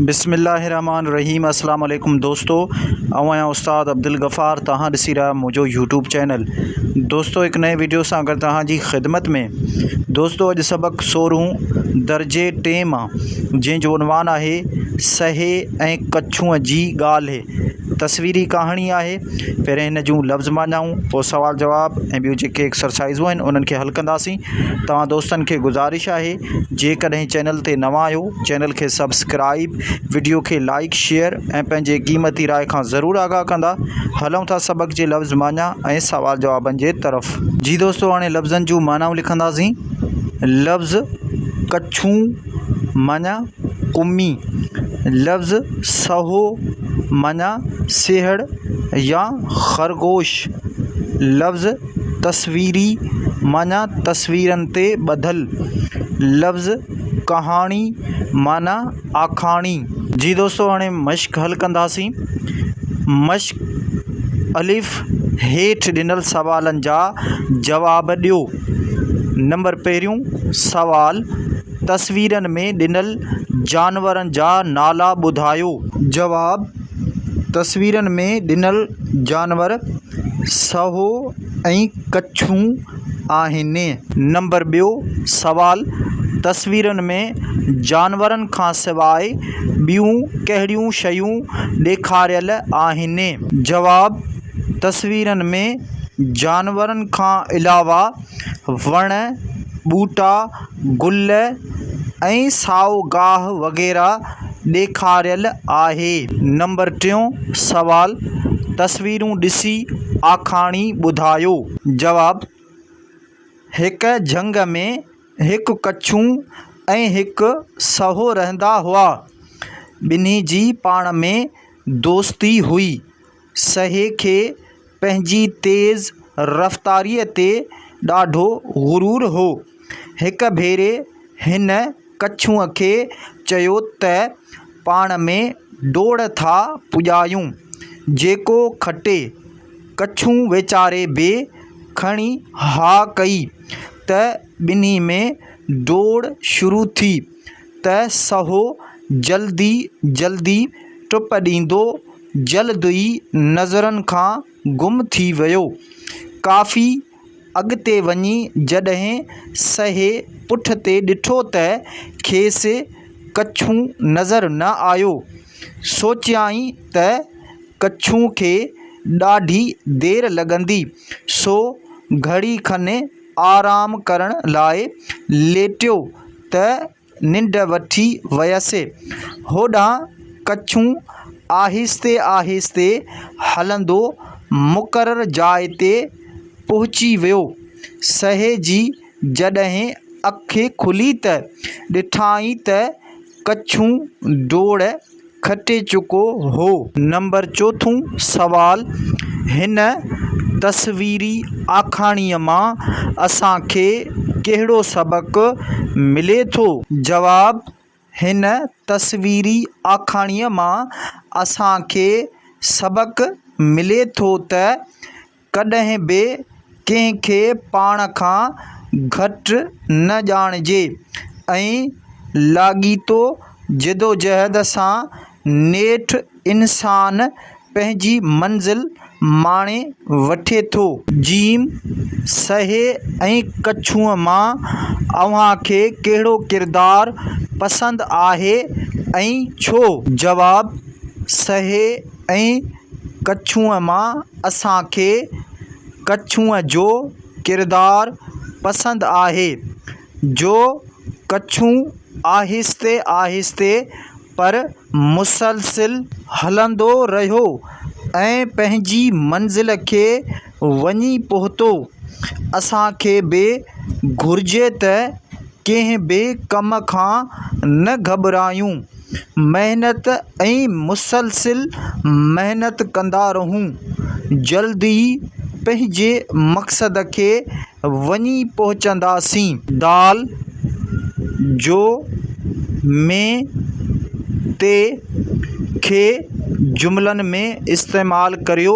بسم الله الرحمٰن الرحيم اسلام عليڪم دوستو آئون آهيان استاد عبدالغفار توهان ڏسي رهيا آهيو منهنجو يوٽيوب چينل دوستو هڪ نئين ويڊيو سان گڏ توهان جي خدمت ۾ دوستو اڄ سبق سورهون درجي ٽي مان جنهن جو عنوان آهي سهي ۽ ڪڇونء جي ڳالهه تصويري ڪهاڻي آهي پهرين هن جون لفظ معنائون پوء سوال جواب ۽ ٻيون جيڪي ايڪسرسائزون آهن انهن کي حل ڪنداسين توهان دوستن کي گذارش آهي جيڪڏهن چينل تي نوان آهيو چينل کي سبسڪرائيب وڊيو کي لائيڪ شيئر ۽ پنهنجي قيمتي راء کان ضرور آگاهه ڪندا هلون ٿا سبق جي لفظ معني ۽ سوال جوابن جي طرف. جي دوستو هاڻي لفظن جون معنائون لکنداسين لفظ ڪڇون معني ڪمي لفظ سهو معني سيهڙ يا خرگوش لفظ تصويري معني تصويرن تي ٻڌل لفظ ڪهاڻي معنيٰ آکاڻي. جي دوستو هاڻي مشق حل ڪنداسين. مشق، الف، هيٺ ڏنل سوالن جا جواب ڏيو. نمبر پهريون سوال، تصويرن ۾ ڏنل جانورن جا نالا ٻڌايو. جواب، تصويرن ۾ ڏنل جانور سهو ۽ ڪڇون. آهن. نمبر ٻيو سوال، تصويرن ۾ جانورن کان سواء ٻيون ڪهڙيون شيون ڏيکاريل آهن؟ جواب، تصويرن ۾ جانورن کان علاوه وڻ، ٻوٽا، گل ۽ سائو گاهه وغيره ڏيکاريل آهي نمبر ٽيون سوال تصويرون ڏسي آکاڻي ٻڌايو جواب هڪ جهنگ ۾ هڪ ڪڇو ۽ هڪ سهو رهندا هئا ٻنهي جي پاڻ ۾ دوستي هئي سهي کي پنهنجي تيز رفتاريء تي ڏاڍو غرور هو. هڪ ڀيري هن ڪڇونء کي چيو ته پاڻ ۾ ڊوڙ ٿا پڄايون. جيڪو کٽي. ڪڇون ويچاري به کڻي ها ڪئي ته ٻنهي ۾ ڊوڙ شروع ٿي ته سهو جلدي جلدي ٽپ ڏيندو جلد ئي نظرن کان گم ٿي ويو. ڪافي اڳتي وڃي جڏهن سهي پٺ تي ڏٺو ته کيس ڪڇو نظر نه آيو. سوچيائين ته ڪڇو کي ڏاڍي دير لڳندي، سو گهڙي کن آرام ڪرڻ لاء ليٽيو ته ننڊ وٺي ويس. هوڏانهن ڪڇون آهستي آهستي هلندو مقرر جاء تي پهچي ويو. سهي جي جڏهن اک کلي ته ڏٺائين ته ڪڇون ڊوڙ کٽي چڪو هو. نمبر چوٿون سوال، هن تصويري آکاڻيء مان اسان کي ڪهڙو سبق ملي ٿو؟ جواب، هن تصويري آکاڻيء مان اسان کي سبق ملي ٿو ته ڪڏهن به ڪنهن کي پاڻ کان گهٽ نه ڄاڻجي ۽ لاڳيتو جدوجهد سان نيٺ انسان پنهنجي منزل ماڻي وٺي ٿو. جيم، سهي ۽ ڪڇوء مان اوهان کي ڪهڙو ڪردار پسند آهي ۽ ڇو؟ جواب، سهي ۽ ڪڇونء مان اسان کي ڪڇونء جو ڪردار پسند آهي جو ڪڇون آهستي آهستي پر مسلسل هلندو رهيو ۽ پنهنجي منزل کي وڃي پهتو. اسان کي به گهرجي ته ڪنهن به ڪم کان نه گهٻرايون، محنت ۽ مسلسل محنت ڪندا رهون. جلد ئي پنهنجي مقصد کي وڃي پهچنداسين. دال جو مين تي کي جملن ۾ استعمال ڪريو.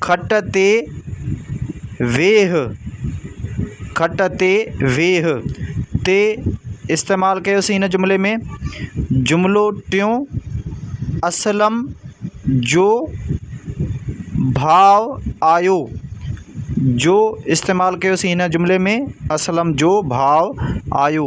کٽ تي ويهه، کٽ تي ويهه، تي استعمال ڪيوسي هن جملي ۾ جملو ٽيون اسلم جو ڀاء آيو جو استعمال ڪيوسي هن جملي ۾ اسلم جو ڀاء آيو